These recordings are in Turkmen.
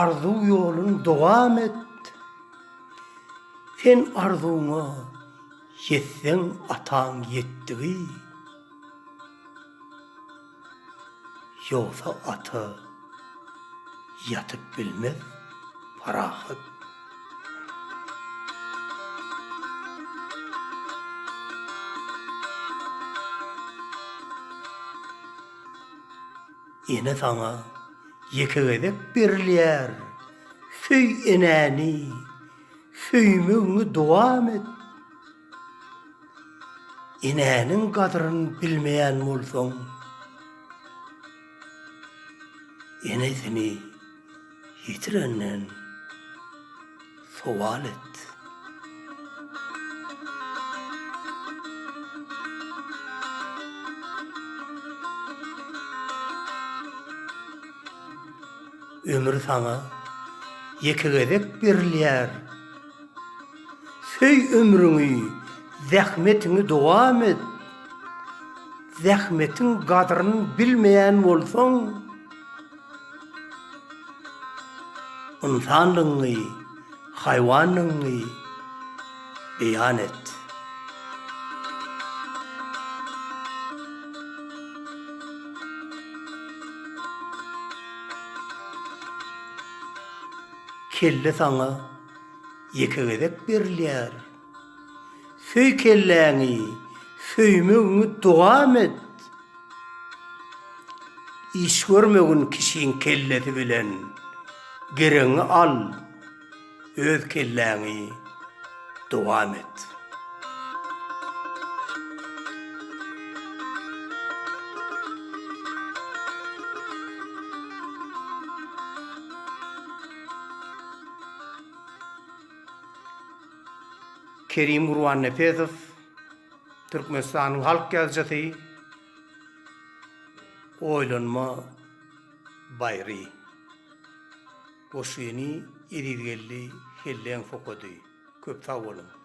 Arzuw ýolun dowam et Sen arzuwyňa ýetseň ataň ýetdigi Ýogsa ata ýatyp bilmez parahat. Ene saňa ýeke gezek berilýär, söý enäni, söýmegiňi dowam et. Enäniň gadryny bilmeýän bolsaň, enesini Ýitirenden sowal et. Ömür saňa ýeke gezek berilýär. Söý ömrüňi, zähmetiňi dowam et. Zähmetiň gadryny bilmeýän bolsaň, Ynsanlygyňy, haýwanlygyňy beýan et. Kelle saňa ýeke gezek berilýär. Söý kelläňi, söýmegiňi dowam et. Iş görmegin kişiň kellesi bilen, geregiňi al, öz kelläňi dowam et. Kerim Gurbannepesow, Türkmenistanyň halk ýazyjysy, Oýlanma baýry. Goşgyny Ezizgeldi Helleňow okady. Köp sag boluň!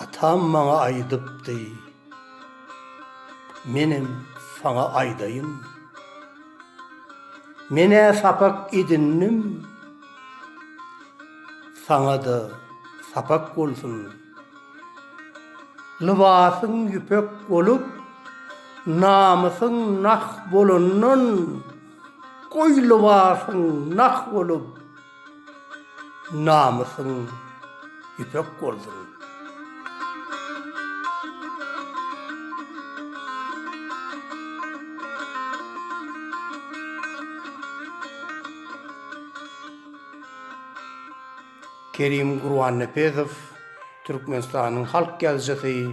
Atam maňa aýdypdy, menem saňa aýdaýyn. Men-ä sapak edindim, saňa-da sapak bolsun. Lybasyň ýüpek bolup, namysyň nah bolandan, goý lybasyň nah bolup, Namysyň ýüpek bolsun. Kerim Gurbannepesow, Türkmenistanyň halk ýazyjysy.